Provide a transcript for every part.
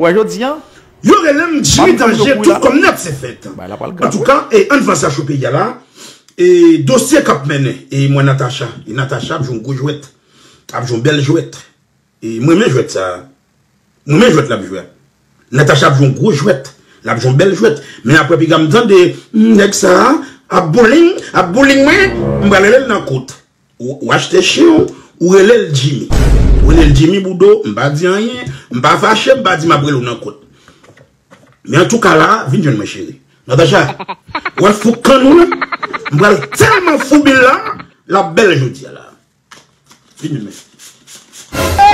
Wè jodi an. Yo relem jimmy danje tout kòm net se fèt antouka e ann vanse acho peyi a la e dosye kap mennen e mwen natacha e natacha ap jwe yon gwo jwèt ap jwe yon bèl jwèt e mwen renmen jwèt sa mwen renmen jwèt lap jwe natacha ap jwe yon gwo jwèt lap jwe yon bèl jwèt men aprè piga m tande nèg sa ap bouling ap bouling mwen m pral relel nan kout Ou achte chien w, ou rele l Jimmy. Ou rele l Jimmy Boudou, m pa di anyen, m pa fache, m pa di m ap rele w nan kot. Men antouka la, vin jwenn mwen cheri. Natacha, ou wè fou kann ou la? M pral tèlman foubi l la, l ap bèl jodi a la. Vin jwenn mwen.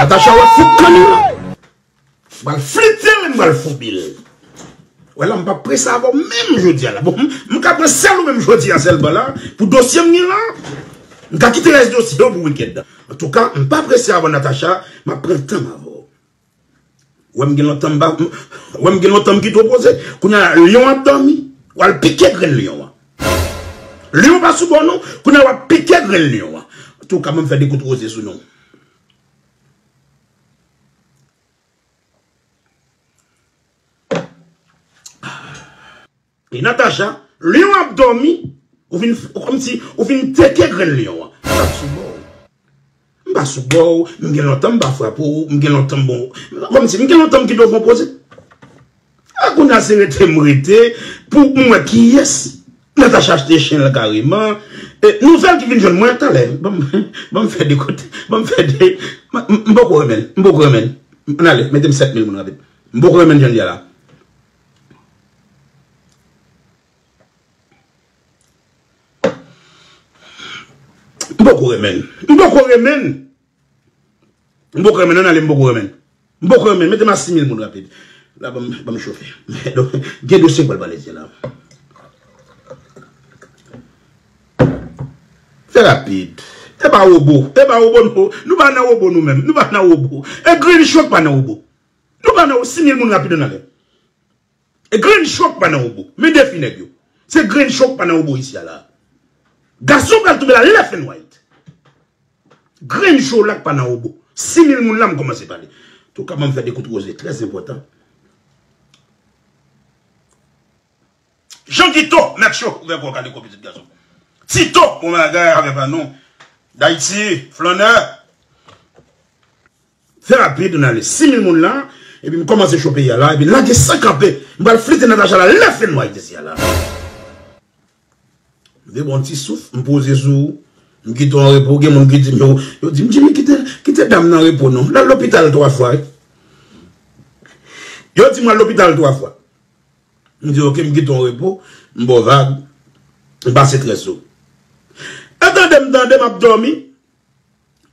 Natacha, ou wè fou kann ou la? M pral flite l, m pral foubi l. Wè la m pa prese avè w menm jodi a la. Bon, m ka pran sèl ou menm jodi a sèlman la pou dosye m gen la. M ka kite rès dosye yo pou wikèn nan. Antouka, m pa prese avè w Natacha, m ap pran tan m avè w. Ou wè m gen lontan m pa, ou wè m gen lontan m kite w poze. Kounye a la, lyon an ap dòmi, w al pike grenn lyon an. Lyon an pa sou bò non, kounye a w ap pike grenn lyon an. Antouka, ban m fè de kout roze sou nou. E Natacha, Lion ap dòmi, ou vin kòmsi ou vin teke grenn Lion an. M pa sou bò ou. M pa sou bò ou, m gen lontan m pa frape ou, m gen lontan m bon. Kòmsi m gen lontan m gen do konpoze. Ah kounya se rete m rete pou m wè kiyès Natacha achte chen l kareman Nouvèl ki vin jwenn mwen talè Ban m fè de kote Ban m fè de M poko renmen l M poko renmen l An ale mete m 7 mil moun rapid M poko renmen l jan l ye a la M poko renmen l M poko renmen l M poko renmen l, ann ale m poko renmen l. M poko renmen l, mete m a 6000 moun rapid. La ban m chofe. Gen dosye k pral pale de la. Fè rapid. E pa wobo. E pa wobo non. Nou pa nan wobo nou menm. Nou pa nan wobo. E Grinch yo k pa nan wobo. Nou pa nan wobo. 6000 moun rapid ann ale. Grenn chòk pa nan obo. Men defi nèg yo. Se grenn chòk pa nan obo isi a la a. Gason pral tonbe la left and right. Grenn cholak pa nan obo. Si mil moun la m kòmanse pale. Touka banm fè de kout roze trè enpòtan. Jean Guito mèt cho ouvè kò w kale kò w pitit gason. Tito bon bagay avè pa nou. Dayiti flannè. Trè rapid nou ale 6000 moun la epi m kòmanse cho peyi a la epi lage san kanpe m pral flite Natacha la lè fè nwa itesi a la m vle pran yon ti souf m poze sou ou m kite w an repo gen moun ki di m yo yo di m Jimmy kite l kite dam nan an repo non l al lopital 3 fwa wi yo di m al lopital 3 fwa m di ok m kite w an repo m ba w vag m pase trè sou ou e tande m tande m ap dòmi.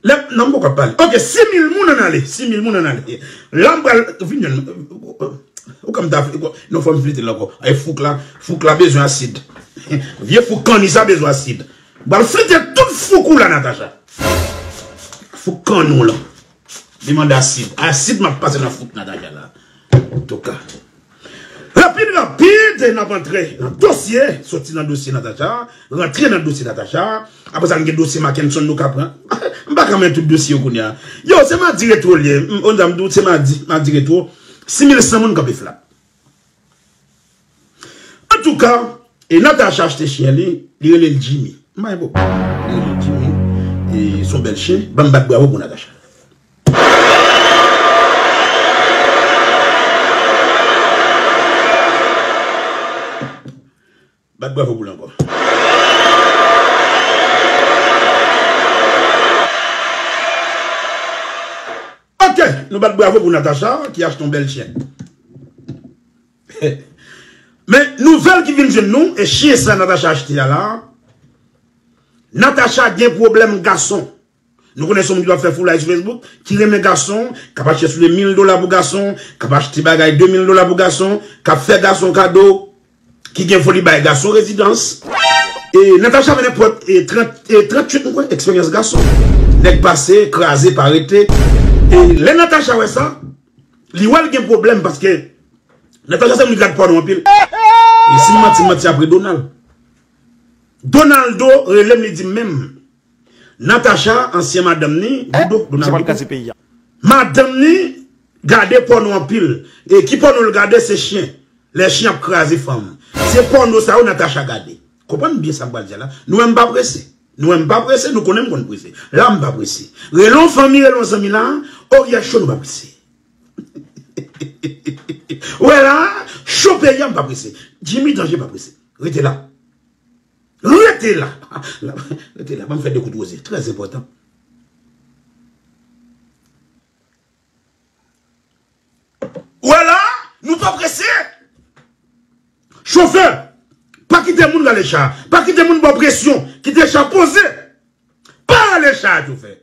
Lèm nan m poko ap pale. Ok 6000 moun an ale. 6000 moun an ale. La m pral vin jwenn nou. Ou ka m ta fè. Non fò m flite l ankò. Ay fouk la. Fouk la bezwen asid. Vye fouk kanni sa bezwen asid. M pral flite tout fouk ou la Natacha. Fouk kanni w lan. Li mande asid. Asid map pase nan fout Natacha la. Antouka. Rapid rapid nap antre nan dosye. Soti nan dosye Natacha. Rantre nan dosye Natacha. Apre sa gen dosye Makenson nou ka pran. M pa ka men tout dosye yo kounya. Yo se madi retro liye. Onza m di w se madi. Madi retro. 6100 moun kanpe flat. Antouka, e Natacha achte chyen li, li rele l Jimmy. M pa gen pwoblèm. Li rele l Jimmy. E s on bèl chen. Ban m bat bravo pou Natacha. Bat bravo pou l ankò. Ok! Nou bat bravo pou Natacha ki achte yon bèl chyen. Men, nouvèl ki vin jwenn nou, e chyen sa Natacha achte a la, Natacha gen pwoblèm gason. Nou konnen se yon moun ki pa fè foulay sou Facebook, ki renmen gason, k ap achte soulye mil dola pou gason, k ap achte bagay de mil dola pou gason, k ap fè gason kado, ki gen foli bay gason rezidans. Natacha mennen pwòt 38 mwen kwè eksperyans gason. Nèg pase, kraze, pa rete. Lè Natacha wè sa, li wè l gen pwoblèm paske Natacha se yon moun ki gad pòno anpil. Si m manti, m manti apre Donald. Donaldo rele m li di m menm. Natacha ansyen madanm ni boudon donald boudon madanm ni gade pòno anpil e ki pòno l gade se chyen lè chyen ap kraze fanm se pòno sa yo Natacha gade konprann byen sa m pral di a la nou wè m pa prese nou wè m pa prese nou konnen m konn prese la m pa prese rele yon fanmi rele yon zanmi la o yè cho nou pa prese ou wè la cho peyi a m pa prese Jimmy danje pa prese rete la Rete la! Rete la, ban m fè de kout woze. Trè enpòtan. Ou wè la a, nou pa prese! Chofè, pa kite moun rale cha a. Pa kite moun ba w presyon. Kite cha a poze. Pa rale cha a, chofè.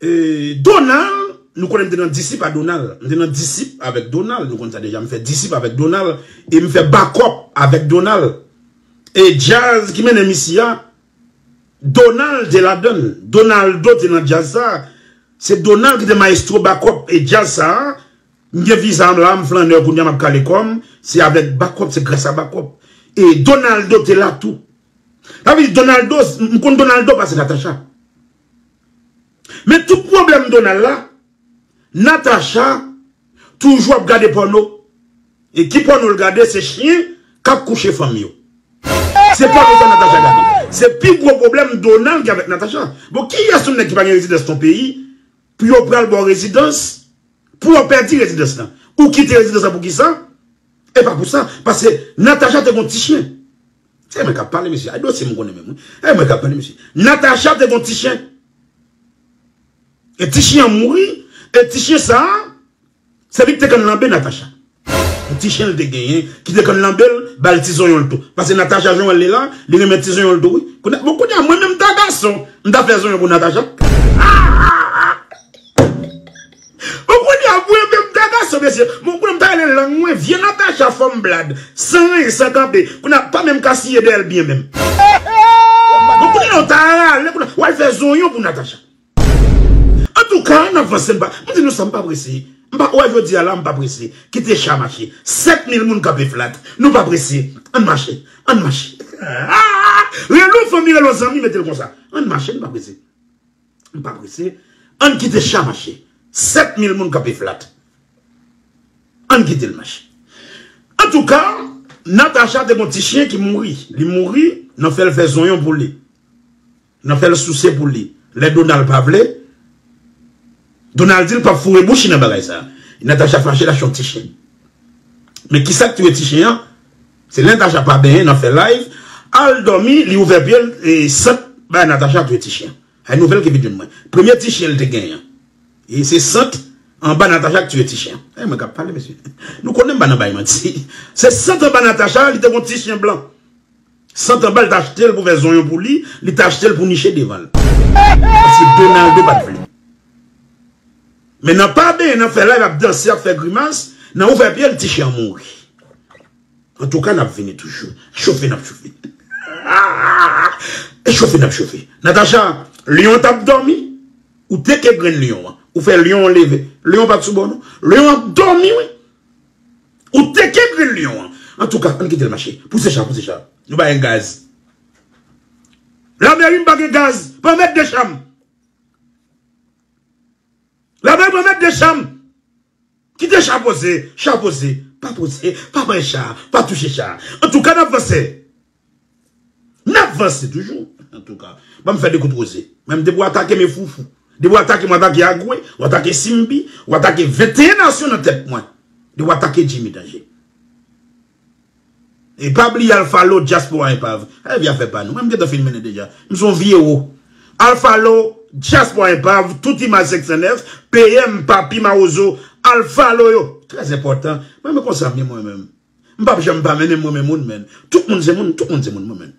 Donald, nou konnen m te nan disip a Donald. M te nan disip avèk Donald. Nou konn sa deja. M fè disip avèk Donald. E m fè bakòp avèk Donald. E djaz ki mennen m isi a, Donald te ladan l. Donaldo te nan djaz sa. Se Donald ki te maestro bakòp e djaz sa. M gen viza m la, m flannè kounye a, m ap kale kò m. Se avèk bakòp, se grasa bakòp. E Donaldo te la tou. Sa vle di Donaldo, m konn Donaldo pase Natacha. Men tout pwoblèm Donald la, Natacha toujou ap gade pòno e ki pòno l gade se chyen k ap kouche fanm yo. Se pòno sa Natacha gade. Se pi gwo pwoblèm Donald gen avèk Natacha. Bon kiyès yon nèg ki pa gen rezidans nan peyi pou yo pral ba w rezidans pou w pèdi rezidans lan? Ou kite rezidans lan poukisa? E pa pou sa, paske Natacha te gen yon ti chyen. Se mwen k ap pale mesye, ay dosye m konnen menm wi. E mwen k ap pale mesye. Natacha te gen yon ti chyen. E ti chyen an mouri, e ti chyen sa a, se li ki te konn lanbe Natacha. Yon ti chyen li te genyen ki te konn lanbe l, ba l ti zonyon l tou. Paske Natacha jan w wè l li la, li renmen ti zonyon l tou wi. Bon kounye a mwen menm m ta gason, m ta fè zonyon pou Natacha. Bon kounya pou yo menm ta gason mesye bon kounya m ta rele lang mwen vye Natacha fanm blad san ranyen san kanpe kounya m pa menm ka siye dèyè l byen menm bon kounya non ta rale kounya wal fè zonyon pou Natacha antouka n ap vanse m pa m di nou sa m pa prese m pa wè jodi a la m pa prese kite cha mache 7000 moun kanpe flat nou pa prese ann mache ann mache rele w fanmi rele w zanmi mete l konsa ann mache n pa prese. M pa prese, ann kite cha mache. 7000 moun kanpe flat. Ann kite l mache. Antouka, Natacha te gon ti chyen ki mouri. Li mouri, nan fè l fè zonyon pou li. Nan fè l souse pou li. Lè Donald pa vle, Donald di l pap foure bouch li nan bagay sa. Natacha fache l achte yon ti chyen. Men kisa k touye ti chyen an? Se lè Tacha pa benyen nan fè live al dòmi li ouvè pyel e sant bay Natacha tou e ti chyen an e nouvèl ki vin jwenn mwen premye ti chyen li te genyen an e se sant anba Natacha ki tiye ti chyen an e mwen kap pale mesye nou konnen m pa nan bay manti se sant anba Natacha li te gon ti chyen blan sant anba li t achte l pou fè zonyon pou li li t achte l pou niche devan l paske Donaldo pat vle. Men nan pa benyen nan fè live ap danse ap fè grimas nan ouvè pyel ti chien mouri antouka nap vini toujou chofe nap chofe e chofe nap chofe Natacha lion tap domi ou teke grenn lion an ou fè lion an leve lion pat sou bò non lion an domi wi ou teke grenn lion an antouka ann kitel mache pouse cha pouse cha nou bayen gaz lameri m pa gen gaz pa met de cham. Lave mwen mèt de chanm. Kite cha poze, cha poze. Pa poze, pa bay cha, pa touche cha. Antouka nap vanse. Nap vanse toujou. Antouka. Banm fè de kout roze. Menm depi w atake me foufou. Depi w atake m w atake Agwe, w atake Simbi, w atake 21 nasyon nan tèt mwen. Depi w atake Jimmy Danje. E pa bliye alfalo dyaspora enpav. Al vye afè pa nou. Mwen m gentan fin mennen deja. M son vye wo. Alfalo dyaspora enpav tout imaj 509 PM papi mawozo alfalo yo trè enpòtan. M renmen konsa m ye mwen menm. M pap janm pa mennen m renmen moun men. Tout moun se moun tout moun se moun mwen menm.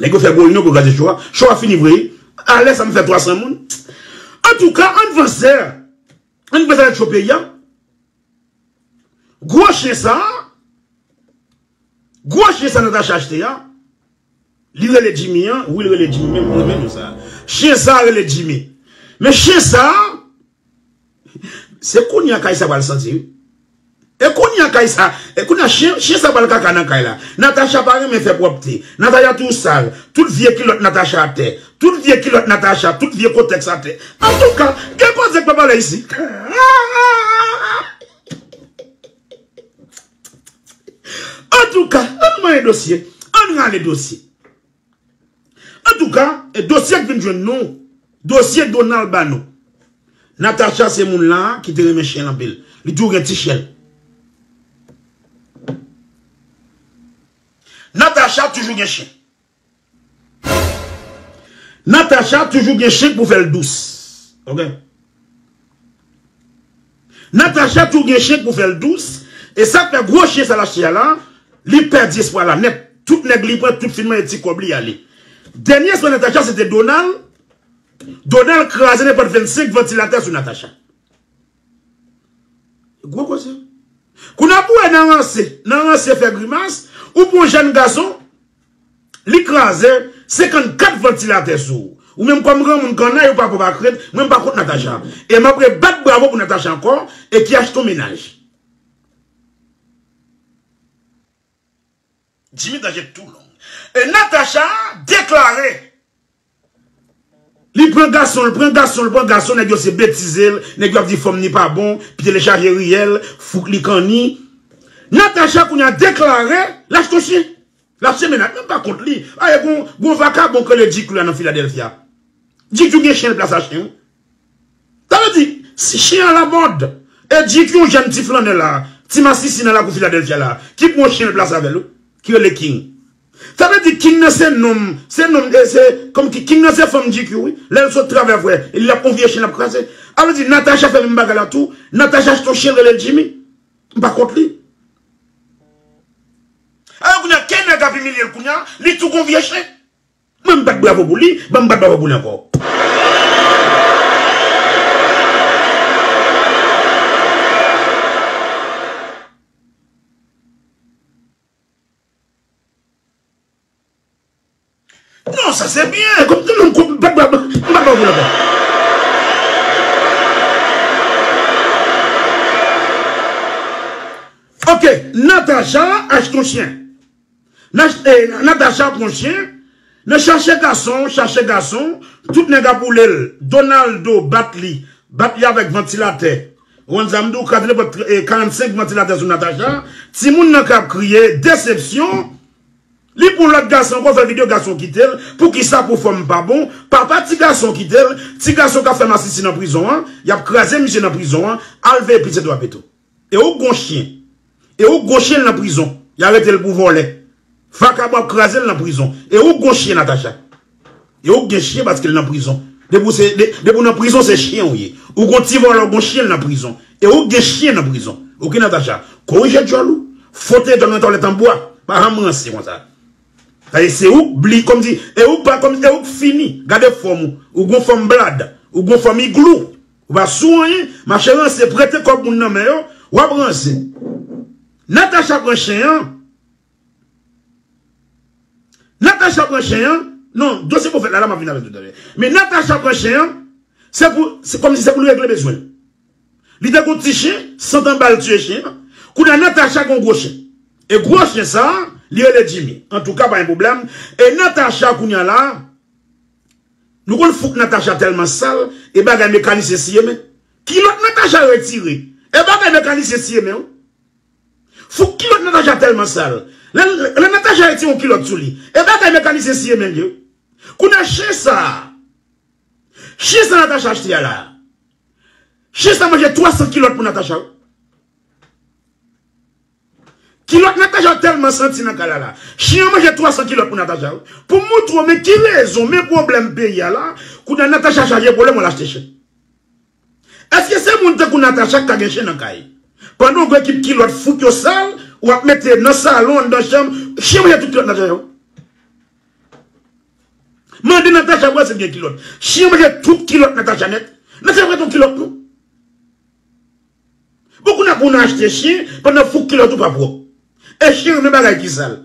Nèg yo fè gwo reyinyon pou kraze show a. Show a fini vre. A lè sa m fè 300 moun. Antouka ann vanse. Ann vanse avèk show peyi a. Gwo chyen sa a. Gwo chyen sa Natacha achte a. Li rele Jimmy an. Wi li rele Jimmy menm. Mwen menm sa. Chyen sa a rele Jimmy. Men chyen sa a. Se kounya kay sa pral santi wi. E kounya kay sa, e kounya chyen sa pral kaka nan kay la. Natacha pa renmen fè pwòpte. Natacha toujou sal. Tout vye kilòt Natacha atè. Tout vye kilòt Natacha, tout vye kotèks atè. Antouka, gen koze k pa pale isi. Antouka, ann manyen dosye. Ann rale dosye. Antouka e dosye k vin jwenn nou dosye Donald ba nou Natacha se moun la ki te renmen chen anpil li toujou gen ti chen Natacha toujou gen chen Natacha toujou gen chen pou fè l dous ok. Natacha tou gen chen pou fèl dous e sak fè gwo chen sa l achte a la li pèdi espwa la nèt tout nèg li pran tout fin manje ti kòb li ale dènye espwa Natacha se te Donald Donald kraze nenpòt 25 vantilatè sou Natacha gwo koze kou nan bouwe nan ranse nan ranse fè grimas ou pran yon jèn gason. Li kraze 54 vantilatè sou ou menm kòm granmoun kannay ou pa kòb ak rent mwen m pa kont Natacha e map re bat bravo pou Natacha ankò e ki achte yon mennaj. Jimmy danje tou long e Natacha deklare. Li pran gasonl pran gasonl pran gason nèg yo se betizel nèg yo ap di fòm ni pa bon pyel chaje riyèl fouk li kanni Natacha kounya deklare l achte yon chyen l ap se menaj menm pa kont li ae gon gon vakabon k rele Djikyou la nan Philadelphia Djikyou gen chyen l plas a chyen wi sa vle di si chyen a lamòd e Djikyou yon jèn ti flannè la ti masisi nan lakou Philadelphia la ki pran yon chyen l plas avèl wi ki rele King. Sa vle di king nan se nom se nom e se kòm ki king nan se fanm GQ wi lèl sot travè vre li ap on vye chen lap kraze a vle di Natacha fè menm bagay la tou Natacha achte on chen relel Jimmy m pa kont li alò kounya ke nèg ap imilyel kounya li tou gon vye chen mwen m bat bravo pou li banm bat bravo pou li ankò. Non sa se byen. Kòm tout moun kont pèp la. M pa pè w pou lapè. Ok Natacha achte yon chyen. Natacha pran chyen. Nan chache gason, chache gason. Tout nèg ap woule l. Donaldo bat li. Bat li avèk vantilatè. One sa m di w kate lepòt 45 vantilatè sou Natacha, timoun nan kap kriye, desepsyon, li pran lòt gason ankò fè video gason kite l, poukisa pou fanm pa bon, papa ti gason kite l, ti gason kap fè masisi nan prizon an, yap kraze misye nan prizon an, al veye pitit ou a Beto. E ou k gon chyen. E ou gwo chyen nan prizon. Ya retel pou vòlè. Vakabon ap krazel nan prizon. E ou gwo chyen Natacha. E ou gen chyen paskel nan prizon. Depi ou nan prizon se chyen ou ye. Ou gwo ti vòlè ou gwo chyen nan prizon. E ou gen chyen nan prizon. Ok Natacha. Korije djòl ou. Fwote djòl nan twalèt an bwa. Pa janm ranse konsa. Paske se ouk bli kom si. E ouk fini. Gade fòm ou. Ou gwo fòm blad. Ou gwo fòm iglou. Ou pa sou anyen mache ranse prete kob moun nan men yo wap ranse Natacha pran chen an Natacha pran chen an non dosye pwofèt la la map vin avèl toutalè men Natacha pran chen an se pou se kòmsi se poul regle bezwenl li te gon ti chen santan bal tiye chen an kounye a Natacha gon gwo chen e gwo chen sa li rele Jimmy antouka pa gen pwoblèm e Natacha kounye a la. Nou konn fout Natacha telman sal e bagay mekanisyen siye men kilot Natacha retire e bagay mekanisyen siye men wi fout kilot Natacha telman sal lè Natacha retire yon kilot sou li e bagay mekanisyen siye men li wi kounya chen sa chen sa Natacha achte a la chen sa manje 300 kilot pou Natacha wi. Kilòt Natacha tèlman santi nan kay la la. Chyen an manje 300 kilòt pou Natacha wi. Pou m moutre w men ki rezon men pwoblèm peyi a la kounye a Natacha chaje pwoblèm wal achte chen. Eske se moun tankou Natacha k ka gen chen nan kay. Pandan w gou ekip kilòt fout yo sal ou ap mete nan salon anndan chanm chyen manje tout kilòt Natacha yo. Mande Natacha pou wè si l gen kilòt. Chyen manje tout kilòt Natacha nèt. Natacha pa gen yon kilòt non. Bon kounya pou nou achte chyen pandan fouk kilòt ou pa pwòp. E chyen renmen bagay ki sal.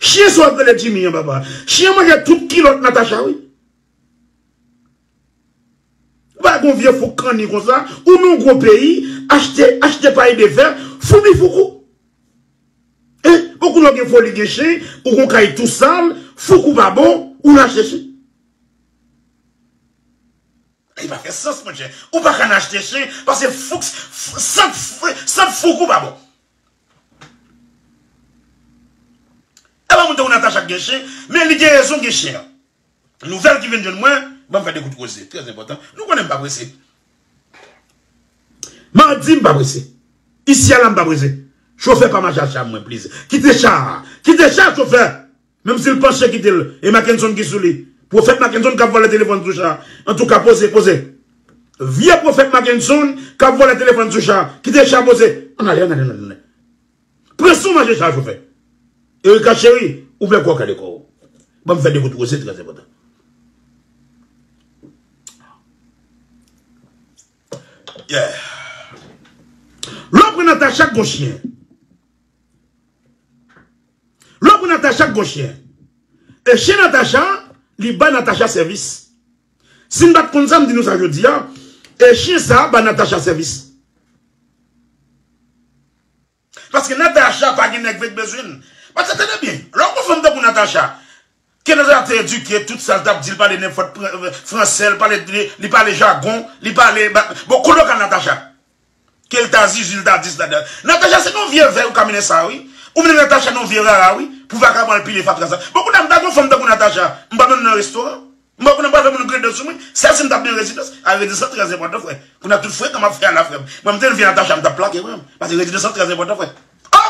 Chyen sa wap rele Jimmy an papa. Chyen manje tout kilòt Natacha wi. Ou pa wè gon vye fouk kanni konsa, ou nan yon gwo peyi, achte, achte pay de fè, foubi fouk ou. E, bon kounya ou gen foli gen chyen, ou gon kay tou sal, fouk ou pa bon, ou rache chyen. Li pa fè sans monchè. Ou pa ka nan achte chen paske fouks sant sant fouk ou pa bon. E pa moun tankou Natacha k gen chen, men li gen rezon gen chen an. Nouvèl ki vin jwenn mwen, banm fè 2 kout koze, trè enpòtan. Nou konnen m pa prese. Mardi m pa prese. Isi a la m pa prese. Chofè pa mache ak cha mwen pliz. Kite cha a. Kite cha chofè. Menm si l panche kite l e Mackenson ki sou li. Pwofèt Mackenson k ap vòlè telefòn sou cha. Antouka poze, poze. Vye pwofèt Mackenson k ap vòlè telefòn sou cha. Kite cha poze. Ann ale, ann ale, ann ale. Pran sou manje cha chofè. Erika cheri, ouvè kò w kale kò w. Ban m fè de gout woze trè enpòtan. Yeah. Lè w pran Natacha k gon chyen. Lò pou Natacha k gon chyen. E chyen Natacha li bay Natacha sèvis. Si m pat konn sa m di nou sa jodi a, e chyen sa bay Natacha sèvis. Paske Natacha pa gen nèg vle k bezwen l. Paske tande byen, lò w gon fanm tankou Natacha, Kenza te edike tout sal tap dil pale nenpòt fransè li pale li pale jagon li pale bon kote ou kal Natacha kel ta zuzu li ta dis la dan Natacha se nan vye vèy ou ka mennen sa wi ou mennen Natacha nan vye rara wi pou vagabon al pile fatra sa bon kounam ta gon fanm tankou Natacha m pap mennen nan restoran m pa konnen pral fè moun grede sou mwen sèl sim tap nan rezidans a rezidans lan trè enpòtan frè kounam tout frekan map fè a la frèm mwen m te nan vye Natacha m tap plake frèm pase rezidans lan trè enpòtan frè oh.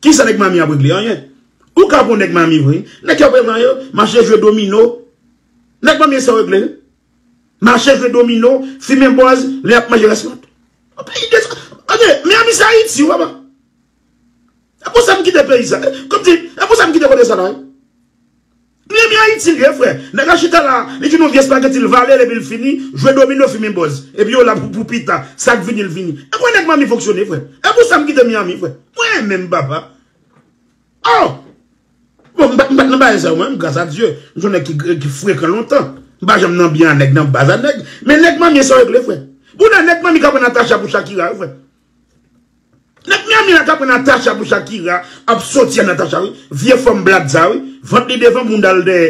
Kisa nèg Miami ap regle? Anyen. Ou ka pran nèg Miami vre. Nèg yo ap regle anyen. Mache jwe domino. Nèg Miami e sa yo regle. Mache jwe domino, fimen bòz, lè y ap manje rès mant. An peyi de sa. Ok, Miami se Ayiti, wè pa. E pou sa m kite peyi sa. Kòm di, e pou sa m kite kote sa la. Byen byen ayiti liye frè. Nèg la chita la, li vin yon vye spageti l vale l epi l fini, jwe domino fimen bòz. Epi yo la pou pita, sak vini l vini. E kwen nèg manmi fonksyone frè. E pou sa m kite Miami frè. Mwen renmen m papa. Oh! Bon m pat nan bagay sa yo mwen menm gras a Dye. M son nèg ki frekan lontan. M pa janm nan byen a nèg nan baz a nèg. Men nèg manmie sa yo regle frè. Bouda nèg manmi k aprann Natacha pou Shakira yo frè. Nèg miami a ka pran Natacha pou Shakira ap soti a Natacha wi vye fanm blag sa wi vant li devan boundal dèyè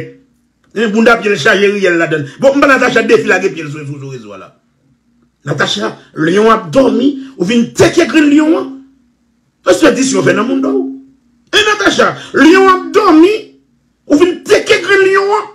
hein bounda pyel chaje riyèl ladann bon mpa Natacha defi lage pyel sou sou rezo a la Natacha lion an ap domi ou vin teke grenn lion an respè di si yo fè nan moun dow hein Natacha lion an ap domi ou vin teke grenn lion an.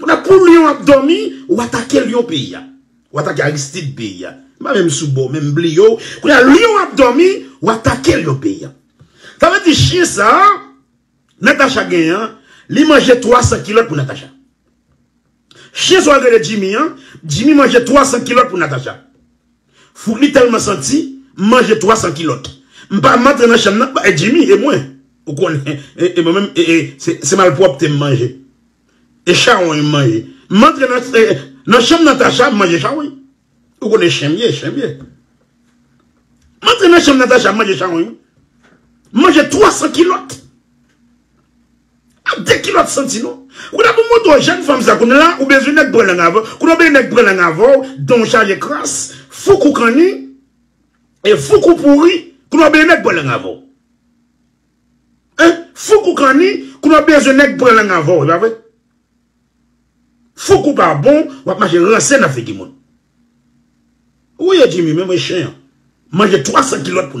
Kounye pou lion ap domi ou atake lion peyi a ou atake aristid peyi a m pa menm sou bò menm bliye w kounye lion ap domi ou atake lion peyi a sa vle di chyen sa Natacha gen an li manje 300 kilòt pou Natacha chyen sa w rele Jimmy an Jimmy manje 300 kilòt pou Natacha. Fout li tèlman santi m manje 300 kilòt m pa m antre nan chanm nan e Jimmy e mwen ou konnen e mwen menm e se malpwòpte m manje e chawony m manje m antre nan chanm Natacha m manje chawony ou konnen chen m ye chen m ye m antre nan chanm Natacha m manje chawony wi m manje 300 kilòt. Ap de kilòt santi non. Koulya pou mwen twò jèn fanm sa kounye la ou bezwen nèg pran lang avèw koulye ou bezwen nèg pran lang avèw danw chaje kras fouk ou kanni e fouk ou pouri koulye ou bezwen nèg pran lang avèw hein fouk ou kanni koulye ou bezwen nèg pran lang avèw epa vre fouk ou pa bon wap mache ranse nan figi moun ou ye Jimmy menm e chen an manje 300 kilòt pou.